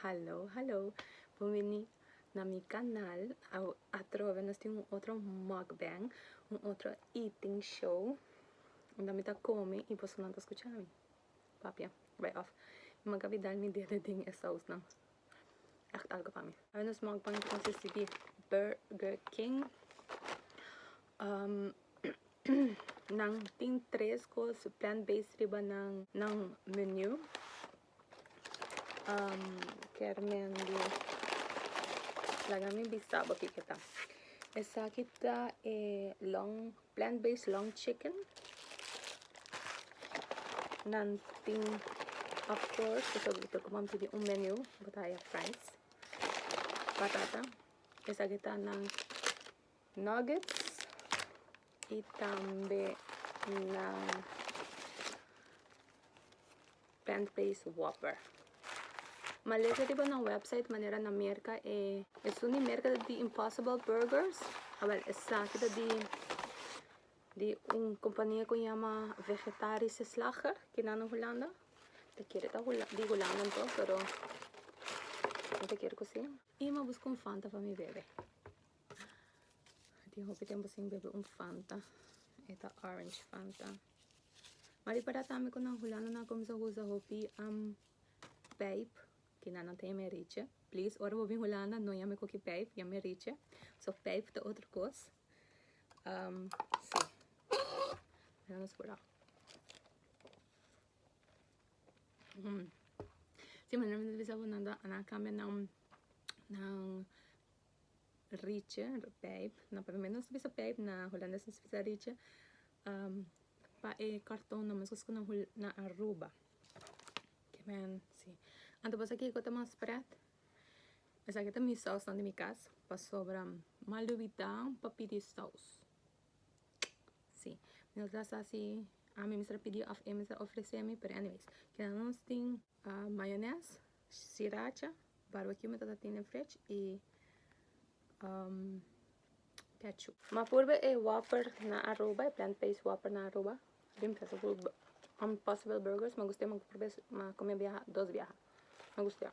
Hallo hallo bon bini na mi kanal atrobe nos tin un otro mukbang un otro eating show unda mi ta komi y bosonan ta skucha mi papia bai of mi manga bidal mi dede den e sous nan. Nos mukbang ta consisti di Burger King. Um, nan tin tres cos plant-based riba nan, nan menu. Um, ker men di... Laga mi bisa bo kiko ta. Esaki ta e long Plant based long chicken. Nan tin, of course, pasobra ku nan pidi un menu, bo ta haya fries, batata. Esaki ta nan nuggets y tambe nan Plant based whopper. Ma lesa riba nan website manera nan merca e. Esun di merca ta di Impossible Burgers. Awel esaki ta di di un compania cu yama Vegetarische Slager ki nan na Hulanda. Ta kere ta di Hulanda anto pero no ta kere cu si. Y ma busca un Fanta pa mi bebe. A tin hopi tempo sin bebe un Fanta. E ta Orange Fanta. Mari para tambe cu nan hulano nan a cuminsa usa hopi am pijp que nan a ta yama e richi. Please ora bo bin hulanda no yama e coki pijp yama e richi. So pijp ta otro cos. Um si mira nos curao. Hmm si manera mi ta bisa bo nan a cambia nan nan Rice, pijp, na primer nos ta bisa pijp na holandes nos ta bisa rice pa e karton nan mescos cu nan hul nan Aruba ke men si anto pasobra kico ta mas pret esaki ta mi saus nan den mi cas pasobra mal di witá pa pidi saus si mi no ta sa si ami mester a pidi of e mester a ofrecemi pero anyways kinan nos tin. Mayones, siracha, barbecue mi tata tin den fridge y ketchup. M'a purbe e whopper na Aruba, e plant based whopper na Aruba. Bin pensa ku Impossible Burgers, m'a guste, m'a purbe, m'a come biaha, dos biaha. M'a gustea.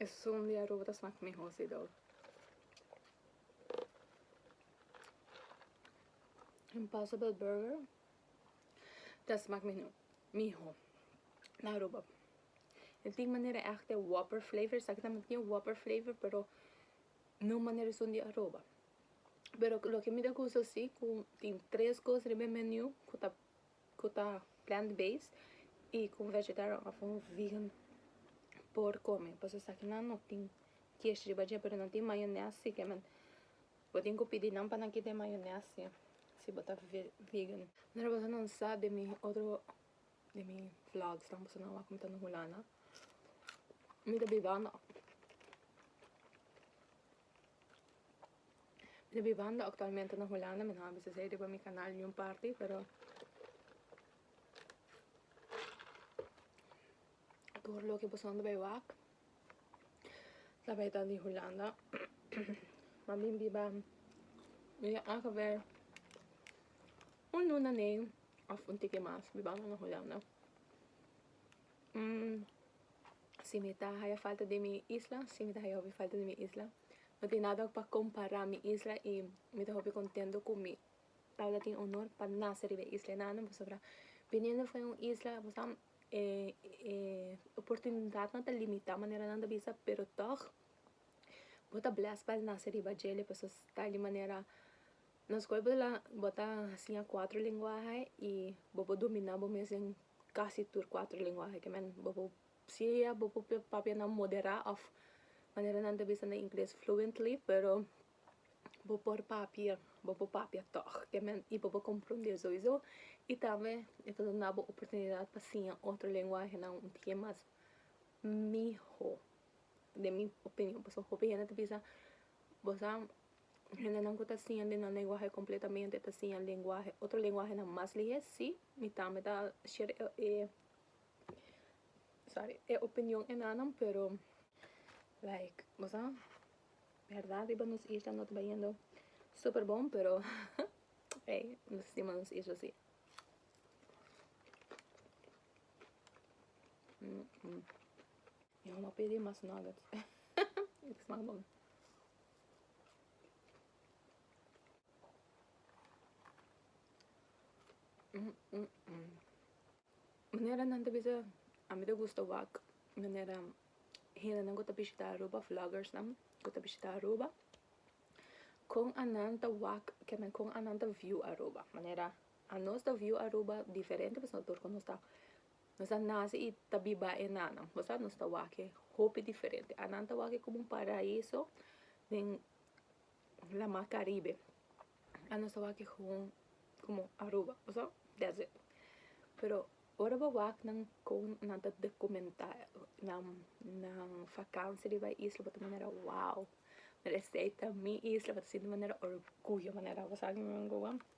Esun di aruba ta smak miho si dou. Impossible burger ta smak mino miho na aruba. E tin manera echt e whopper flavor esaki tambe tin whopper flavor pero no manera esun di aruba. Pero loke mi ta gusta si ku tin tres kos riba e menu ku ta ku ta plant based y ku vegetarian of un vegan por kome pasobra esaki nan no tin kies riba dje pero nan tin mayones si ke men bo tin ku pidi nan pa nan kita e mayones si si bo ta vegan. Nere boso nan sa de mi otro de mi vlogs nan boso nan wak mi ta na hulanda mi ta bibando. De mi banda actualmente na Hulanda mi no a bisa esei riba mi canal niun parti pero tur loke pasobra bay wak ta bay ta di Hulanda ma mi biba mi a a haber un luna nei of un tiki mas bibanda na Hulanda. Si mi ta haya falta den mi isla, si mi ta haya hopi falta den mi isla, no tin nada pa kompará mi isla i mi ta hopi kontento ku mi tabata tin onor pa nase riba e isla i nana pasobra biniendo fu un isla oportunidatnan ta limitá manera nan ta bisa pero tog bo ta blèsd pa nase riba dje pasobra ta di manera. Na skol bo ta bo ta hasiña kuater lenguahe i bo por dominá bo mes den kasi tur kuater lenguahe ke men bo por siria bo por papia nan moderá òf manera nan ta bisa na ingles fluently pero bo por papia bo por papia tòg ke men i bo por komprondé soisou i tambe e ta duna bo oportunidat pa siña otro lenguahenan un tike mas mihó den mi opinion pasobra hopi hende ta bisa bo sa Hendenan ku ta siña den nan lenguahe kompletamente ta siña lenguahe, otro lenguahenan mas lihé? Sí. Mi tambe ta share e, sorry, e opinion enanan, pero like bo sa bèrdat riba nos isla no ta bayendo super bon, pero ey nos stima nos isla sí. Yo no a pidi mas nuggets. Smaak bon. Manera nan ta bisa a mi ta gusta wak manera hendenan ku ta bishita aruba vloggersnan ku ta bishita aruba kon a nan ta wak ken men kon a nan ta view aruba manera a nos ta view aruba diferente pasobra nos ta Nos a nace y ta biba enanan. Bo sa nos ta wake hopi diferente. Anan ta wake como un paraiso den la mar Caribe. A nos ta wake gewoon como Aruba. Bo sa? That's it. Pero ora bo wak nan con nan ta documenta nan, nan vakantie riba e isla bo ta manera wow. Mira esei ta mi isla, bo ta sinti manera orgullo manera bo sa kico nan go an.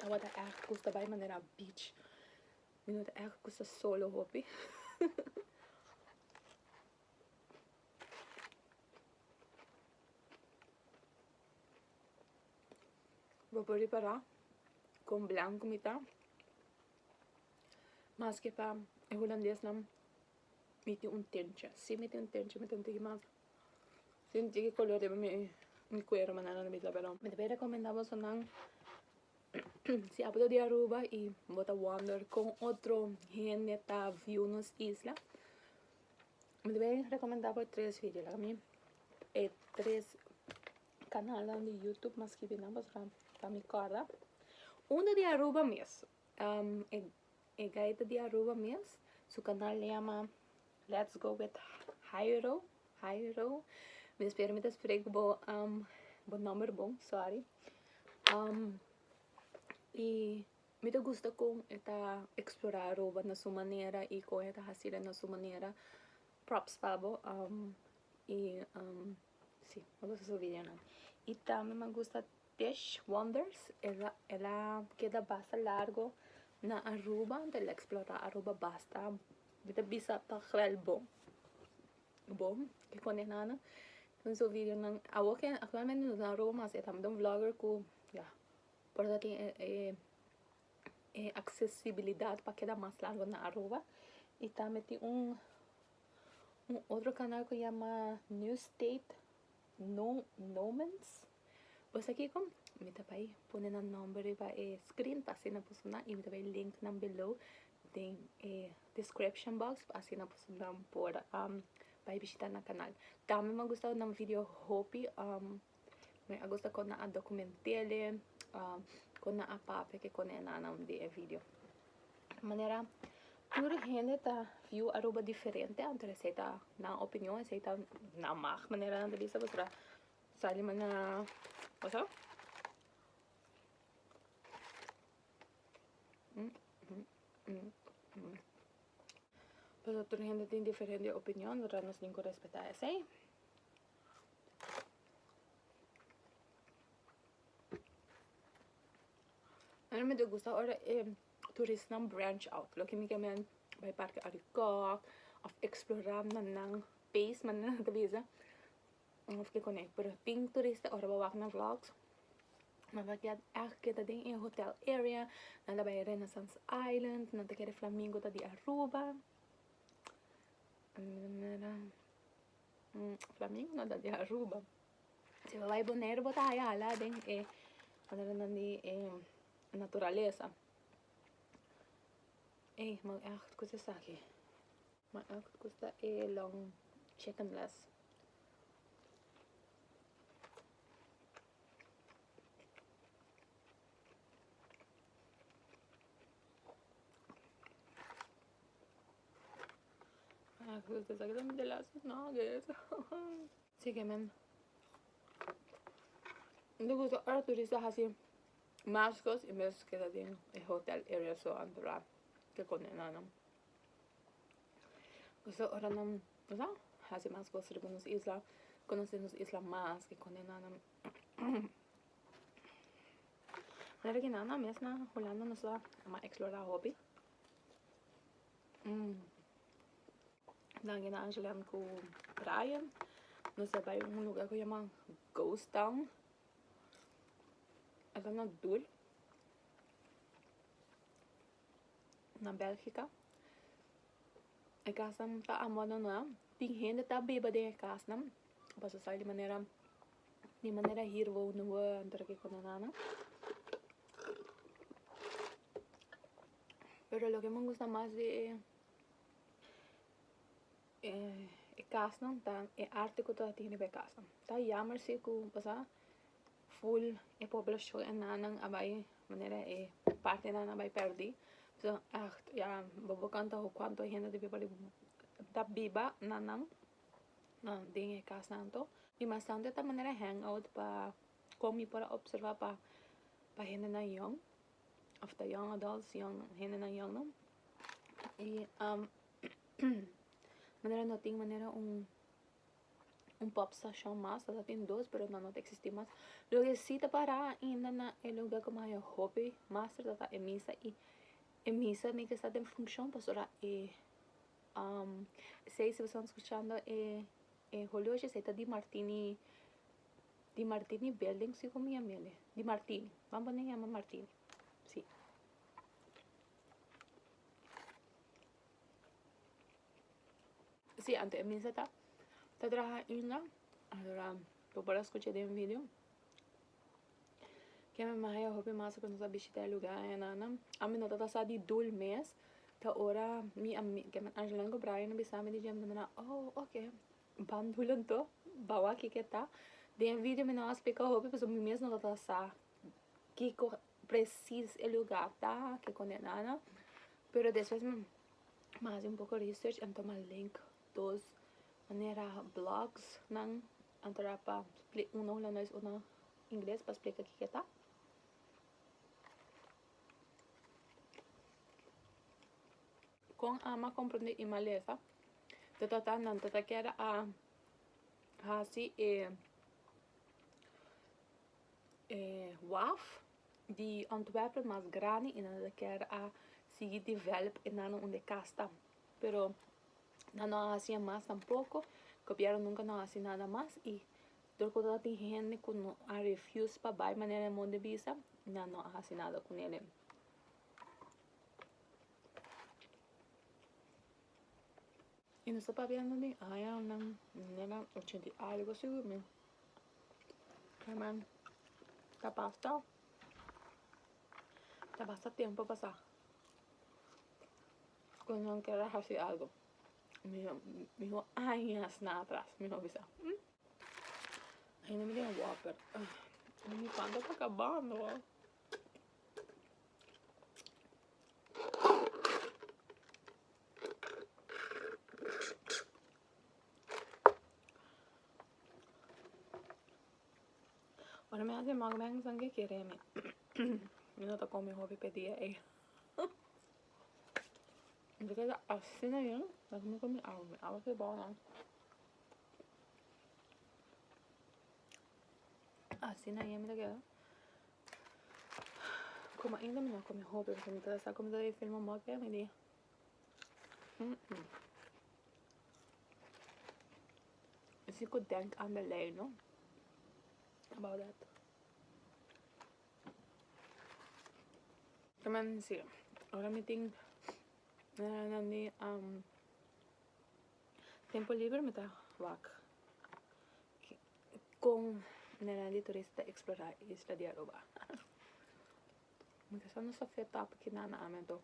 Tabata èg cus ta bai manera beach. Mi no ta èg cus ta solo hopi. Bo por ripará con blanco mi ta. Maske pa e hulandes nan mi tin un tinche. Sí mi tin un tinche mi ta un tiki mas Sinti ki color riba mi cuero manana lo mi ta pero mi ta bin recomenda boso nan si apo ta di Aruba y bo ta wonder con otro hende ta view nos isla mi ta bin recomenda bo e tres video like ami e tres canalnan di YouTube mas ki binan pasobra pa mi corda un ta di Aruba mes e guy ta di Aruba mes su canal a yama Let's go with Jairo Jairo mi ta spera mi ta spreek bo um bo nomber bon sorry um y mi ta gusta con e ta explora Aruba na su manera y con e ta hasi na su manera props pa bo um y um si mi gusta su video nan y tambe mi a gusta Tish Wonders esa el a keda basta largo na Aruba entonces el a explora Aruba basta Mi ta bisa pa kral bo bo e kondenana den su videonan awor ke aktualmente nos a roba mas e tambe ta un vlogger ku ya por ta tin e aksesibilidat pa keda mas largo na Aruba i tambe tin un otro kanal ku yama New State. Nun nomens pues aki kom mi ta bai pone nan nomber riba e screen pa asina por su nan y mi ta bai link nan below den e description box pa asina por su nan por um bai bishita nan canal tambe mi a gusta nan video hopi um mi a gusta con nan a documentele um con nan a papia ke con nan e nannan den e video. manera tur hende ta view Aruba diferente anto esei ta nan opinion esei ta nan mag manera nan ta bisa pasobra sa lima na paso paso tur hende tin diferente opinion pasobra nos tin cu respeta esei. Ai mi ta gusta ora e turistnan branch out loke mi ke men bai parke arikòk of eksplorá na nan pees manera nan ta bisa of kikune pero tin turista ora bo wak nan vlogs nan ta gèt ègt keda den e hotel area nan ta bai Renaissance Island nan ta kere Flamingo ta di Aruba Flamingo no ta di Aruba. Si bo bai Boneiru bo ta haya hala den e maneranan di e naturalesa. Ey, man echt koes esaki. Man echt koes ta e long chicken les. Man echt koes ta esaki, ta minte last week nuggets. Sigi men mi ta gusta ora turista a hasi mas cos y mes keda den e hotel y restaurant ora ke con enana pasobra ora nan wesa hasi mas cos riba nos isla conoce nos isla mas ke con enana manera ke nana mes na Holanda nos a explora hopi Danki na Angelem ku Brian. Nos a bai un luga ku yama Ghost Town. E lo na dur. Na Belgica. E kasanan ta abandoná. Tin hende ta biba den e kasnan. Paso esaki di manera, di manera hir wou no wou antra ki kondenana. Pero loke mi gusta mas di e. e kasnan ta e arte ku ta atende pa e kasnan ta yammer si ku pasá ful e poblashon e nannan a bai manera e parti e nannan a bai pèrdí so aht ya bobo kanta ho kuantu hende ta biba den ta biba nannan den e kasnan anto i bastante ta manera hèngout pa kon mi por a opservá pa pa hendenan yòn. of ta young adults, young hendenan young no. Y um, manera no tin manera un un pop station mas, ta tin dos pero na no ta existi mas. Lo que si ta para ainda na e lugar como hay hopi mas ta ta e misa y e misa mi que sta den funcion pasobra e um seis escuchando e e holoche esei ta di martini Di Martini Building, si como llama ele? Di Martini, vamos poner llama Martini, si. Si, anto e misa ta traha ainda, aora bo por a scucha den video, ke mi mahai a hopi mas cu nos a bishita e lugar en nannan, ami no tata sa di dul mes, ta ora mi ami, ke Angeline cu Brian a bisa mi di dje, mi ta miran, oh, ok. Bam nulo do bawaki ke ta. Den e video mi no a splica hopi pasobra mi mes no lo ta sa kiko presis e lugar ta ke condenana pero despues mi a haci un poco research anto mi a link dos manera blogs nan anto a pa una hulandes una ingles pa splica kiko ta Kon ama komprondé e malesa ta tratá nan ta ta keda a hasi e e waf di Antwerpen mas grandi i nan ta ta keda a sigui develop e nano un de kas ta pero nan no a hasié mas tampoko gobièrnu nunka no a hasi nada mas i dor ku ta tin hende ku no a refiuz pa bai manera nan bon di bisa nan no a hasi nada ku nele. Y nos ta papiando den aña nan nena ochenta y algo asi cu mi herman ta pasa ta basta tempo pasa cu nan ken a hasi algo miho añas nan atras mi a bisa hmm ain mi den water mi cuanto ta cabando. Ora mi a haci mukbang san ke kere mi mi no ta come hopi p'e dia ei mi ta keda asina yen laga mi come mi awa ke bo nan Asina yami ta keda. Como ainda mi no come hopi porque mi ta sa como ta de film un boke mi di. Mm -mm. Si ku denk aan de lei no about that. Kama si ora mi tin na na ni um Tempo liber mi ta wak con nenan di turista ta explora isla di Aruba. Mi ta sa no sa fe tap ki nana ami anto.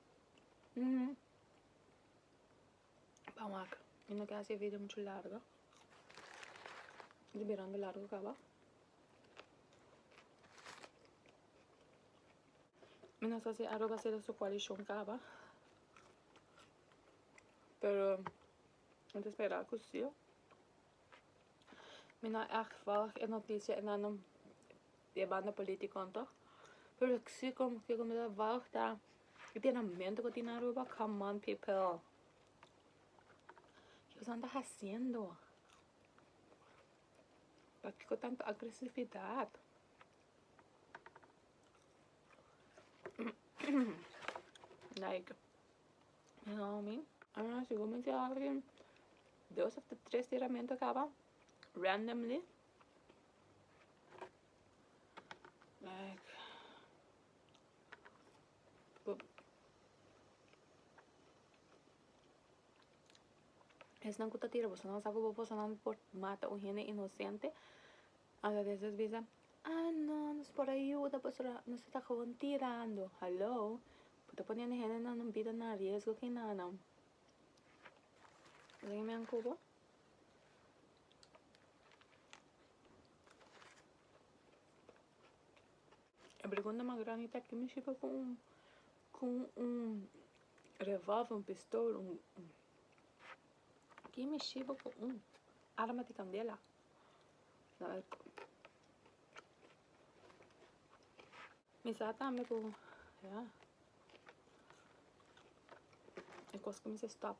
Mm. Pa wak. Mi no ke hasi e video mucho largo. Di birando largo kaba. Mi no sa si Aruba sera su coalition kaba. Pero mi ta spera ku si. Mi no echt volg e noticia enano di e banda politiconan toch. Pero lo si ku kiko mi ta volg ta e tienamento ku a tin Aruba. Come on people. Kikosan ta haciendo. Pakiko tanto agresividad. Like. Hello, mi. Ah, si mi te habla que dos of the tres tiramento acaba randomly. Like, but es nan kuta tira, bosan nan sabe bosan nan por mata un hende inocente. Alabes nos bisa, Ah no, nos por a yuda pasobra nos esta gewoon tirando. Hallo, bo ta poniendo hendenan nan bida na riesgo aki na na. Esaki mi a cubo. E pregunta mas grandi ta kimin shiba cu un cu un revolver, un pistol, un kimin shiba cu un arma di candela? Mi sa tambe ku ya e kos ku mi sa stop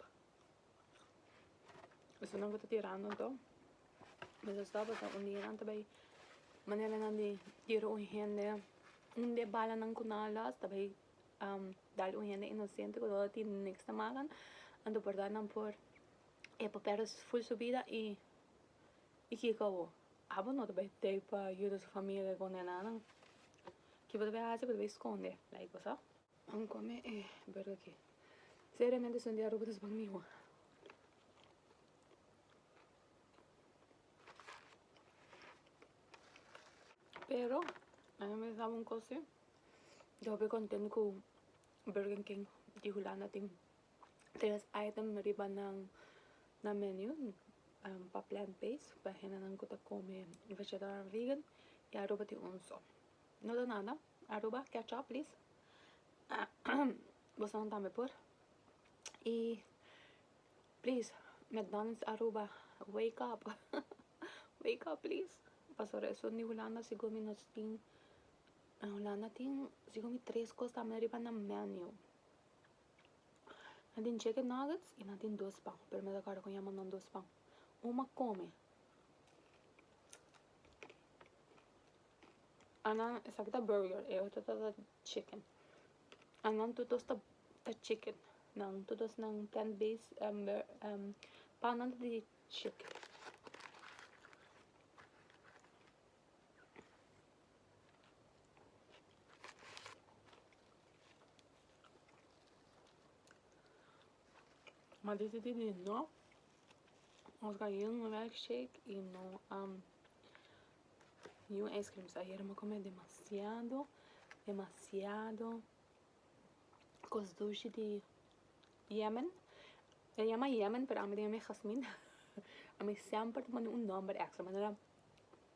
esunat ku ta tirando anto mi sa stop pasobra un dia nan ta bai manera nan di kere un hende un di e balanan ku nan a lòs ta bai dal un hende inosente ku no tin niks ta makan anto por nan por e papeles ful subida i I kiko abo? Abo no ta bai tei pa yuda su familia ku nenanan? Ki bo ta bai hasi ku ta bai skonde like bo sa? An kome e Burger King. Seriamente esun di Aruba ta su pan mihó. Pero a mi pensá un kos si, yo hopi kontentu ku Burger King di Hulanda tin. tres item riba nan na menu pa plant based pa hendenan ku ta kome vegetarian vegan y aruba tin un so no ta nada aruba ketchup plis bosonan tambe por y plis mcdonalds aruba wake up wake up plis paso resto di hulanda sigur mi no tin na hulanda tin sigur mi tres cos tambe riba nan menu. Nan tin chicken nuggets y nan tin dos pan pero me ta acorda con yama nan dos pan un ma come anan esaki ta burger e otro ta ta chicken anan todos ta chicken nan todos nan plant base pan nan ta di chicken. Ma di di di di no nos ka yu un milkshake y no am yu un ice cream so ayer me come demasiado demasiado cos dushi di yemen e yama yemen pero ami tin ami jasmin ami semper ta pone un nomber extra manera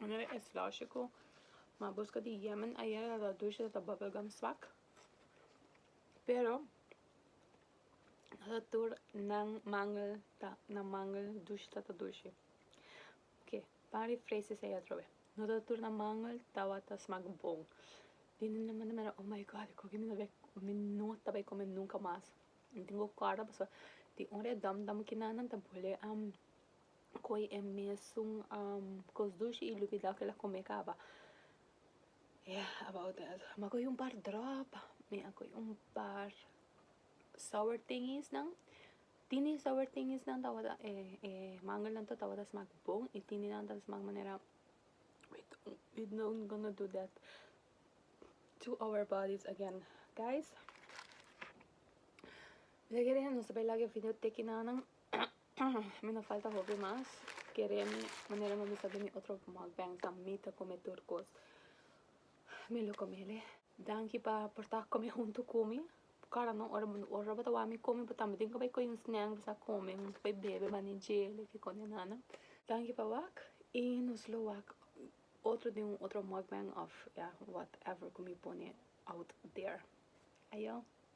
Bueno es logico ma busca di Yemen ayer ta ta dulce ta ta bubble gum swak pero no ta tur nan mangel ta nan mangel dulce ta ta dulce ok pan refres esey atrobe no ta tur nan mangel tabata smak bon tin tin tin tin oh my god con que mi no bay mi no ta bay come nunca mas tin tin cu corda pasobra tin ora e dom dom kinan nan ta bole am Koe e mesun cos dushi y lubi dao kila come caba yeah about that mi a coge un par drop mi a coge un par sour tingies nan tini sour tingies nan tawata e mango nan tawata smaak bon y tini nan ta smaak manera we don't gonna do that to our bodies again guys mi ta kere nos a bay lag'e video teki nan nan Mi no falta hopi mas kere mi manera mi bisa di mi otro mukbangs nan mi ta come tur cos mi lo comele danki pa por ta come hunto cu mi cara no ora ora bo ta wak mi come bo tambe tin ki bay coge un snack bisa come hunto bay bebe bani jele kikome nana danki pa wak y nos lo wak otro di un otro mukbang of ya whatever cu mi pone out there ayo.